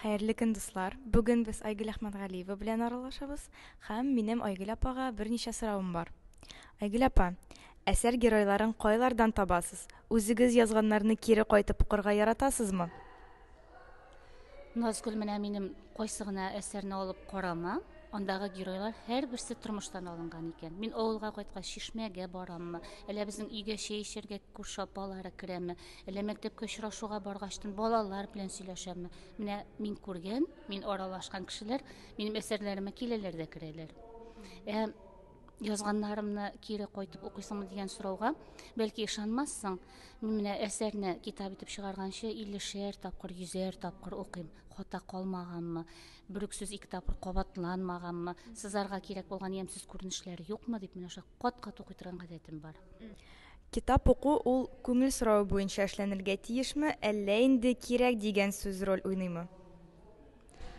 Хәерле көн дуслар! Бүген без Айгөл Әхмәтгалиева белән аралашабыз һәм минем Айгөл апага берничә соравым бар. Айгөл апа, әсәр геройларын кайлардан табасыз? Үзегез язганнарны кире кайтып укырга яратасызмы? Назгөл, менә минем кайсы гына әсәрне алып карама, андагы геройлар һәрберсе тормыштан алынган икән. Мин авылга кайткач, чишмәгә бараммы, әллә безнең өйгә чәй эчәргә күрше апалары керәме, Әллә мәктәпкә очрашуга баргачтын балалар белән сөйләшәме? Менә мин күргән, мин аралашкан кешеләр минем әсәрләремә киләләр дә керәләр. Ә язганнарымны кире кайтып укыйсыңмы дигән сорауга, бәлки ышанмассың, мин менә әсәрне китап итеп чыгарганчы 50-шәр тапкыр, 100-әр тапкыр укыйм. Хата калмаганмы? Бер үк сүз ике тапкыр кабатланмаганмы? Сызарга кирәк булган ямьсез күренешләр юкмы дип менә шулай кат-кат укый торган гадәтем бар. Китап уку ул күңел соравы буенча эшләнергә тиешме, әллә инде кирәк дигән сүз роль уйныймы?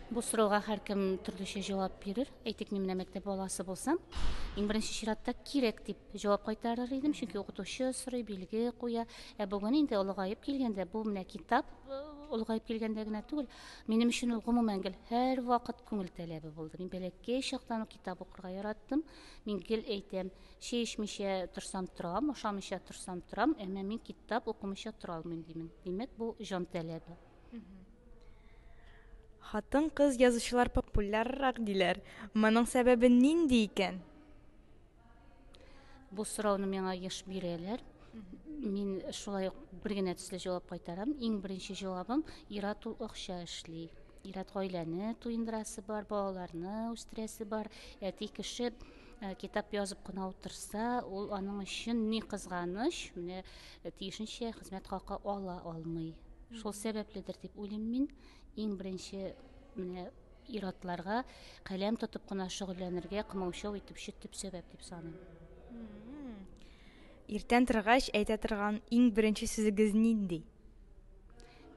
Бу сорауга һәркем төрлечә җавап бирер. Әйтик, мин менә мәктәп баласы булсам, иң беренче чиратта кирәк дип җавап кайтарыр идем, чөнки укытучы сорый, билге куя. Ә бүген инде олыгаеп килгәндә, бу менә китап олыгаеп килгәндә генә түгел, минем өчен ул гомумән гел һәрвакыт күңел таләбе булды. Мин бәләкәй чактан ук китап укырга яраттым. Мин гел әйтәм, Чәй эчмичә торсам торам, ашамыйча торсам торам, әмма мин китап укымыйча тора алмыйм димен. Димәк, бу җан таләбе. Хатын-кыз язучылар популяррак диләр. Моның сәбәбе нинди икән? Бу сорауны миңа еш бирәләр. Мин шулай ук бер генә төсле җавап кайтарам. Иң беренче җавабым ират ул акча эшли. Ират гаиләне туендырасы бар, балаларны үстерәсе бар. Әти кеше Э, китап язып кына утырса, ул аның өчен ни кызганыч, менә э, тиешенчә хезмәт хакы ала алмый. Шул сәбәпледер дип уйлыйм мин. Иң беренче менә иратларга каләм тотып кына шөгыльләнергә кымаучау итеп чит дип сәбәп дип саныйм. Иртән торгач әйтә торган иң беренче сүзегез нинди?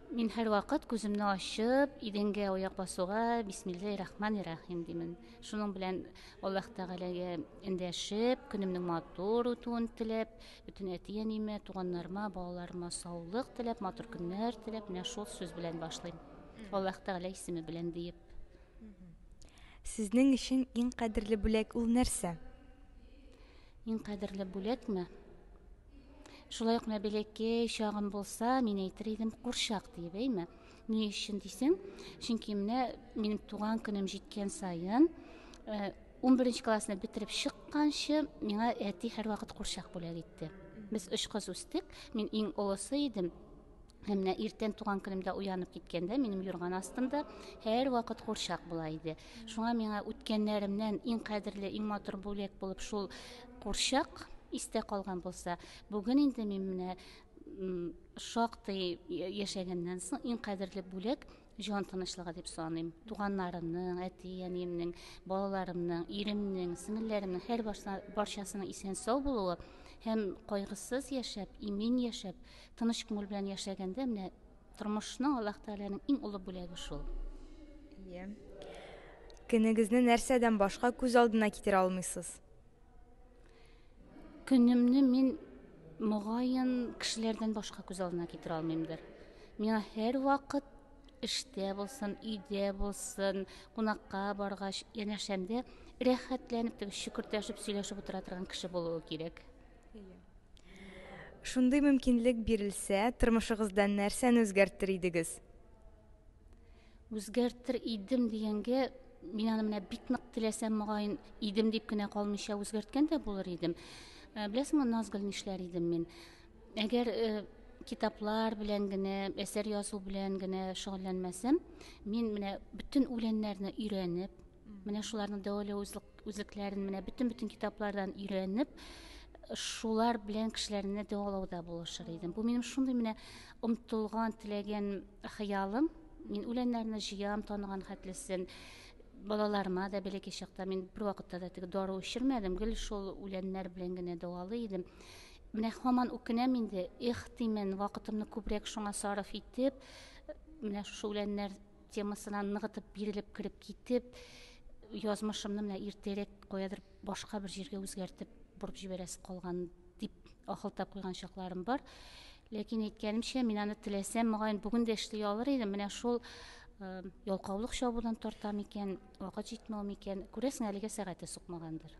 Мин һәрвакыт күземне ачып, идәнгә аяк басуга бисмилләһи рахмани рахим димен. Шуның белән Аллаһ Тәгаләгә эндәшеп, көнемнең матур үтүен теләп, бөтен әти-әниемә, туганнарыма, балаларыма саулык теләп, матур көннәр теләп, менә шул сүз белән башлыйм. Аллаһ Тәгалә исеме белән диеп. Сезнең өчен иң кадерле бүләк ул нәрсә? Иң кадерле бүләкме? Шулай ук менә бәләкәй чагым булса, мин әйтер идем курчак диеп, әйме? Ни өчен дисең? Чөнки менә минем туган көнем җиткән саен, 11 э, классны бетереп чыкканчы, миңа әти һәрвакыт курчак бүләк итте. Без өч кыз үстек, мин иң олысы идем. Әмнә иртән туган көнемдә уянып киткәндә минем юрган астымда һәр вакыт курчак була иде. Шуңа миңа үткәннәремнән иң кадерле, иң матур бүләк булып шул курчак истә калган булса, бүген инде мин менә шактый яшәгәннән соң иң кадерле бүләк Җан тынычлыгы дип саныйм. Туганнарымның, әти-әниемнең, балаларымның, иремнең, сеңелләремнең һәр барчасының исән сау булуы һәм кайгысыз яшәп, имин яшәп, тыныч күңел белән яшәгәндә менә тормышның Аллаһ Тәгаләнең иң олы бүләге шул. Ие. Көнегезне нәрсәдән башка күз алдына китерә алмыйсыз? Көнемне мин могаен кешеләрдән башка күз алдына китерә алмыймдыр. Миңа һәрвакыт эштә булсын, өйдә булсын, кунакка баргач, янәшәмдә рәхәтләнеп теге шөкертәшеп сөйләшеп утыра торган кеше булуы кирәк. Шундый мөмкинлек бирелсә, тормышыгызда нәрсәне үзгәртер идегез? Үзгәртер идем дигәнгә, мин аны менә бик нык теләсәм, мөгаен, идем дип кенә калмыйча үзгәрткән дә булыр идем. Э, беләсеңме, Назгөл, нишләр идем мин? Әгәр э, китаплар белән генә, әсәр язу белән генә шөгыльләнмәсәм, мин менә бөтен үләннәрне өйрәнеп, Менә шуларның дәвалау үзлекләрен менә бөтен бөтен китаплардан өйрәнеп, шулар белән кешеләрне дәвалауда булышыр идем. Бу минем шундый менә омтылган, теләгән хыялым. Мин үләннәрне җыям, таныган хәтлесен балаларыма да бәләкәй чакта мин бервакытта да теге дару эчермәдем гел шул үләннәр белән генә дәвалый идем менә һаман үкенәм инде эх димен вакытымны күбрәк шуңа сарыф итеп менә шушы үләннәр темасына ныгытып бирелеп кереп китеп язмышымны менә иртәрәк каядыр башка бер җиргә үзгәртеп борып җибәрәсе калган дип ахылтап куйган чакларым бар ләкин әйткәнемчә мин аны теләсәм мөгаен бүген дә эшли алыр идем менә шул э, ялкаулык чабудан тарта микән вакыт җитмәү микән күрәсең әлегә сәгате сукмагандыр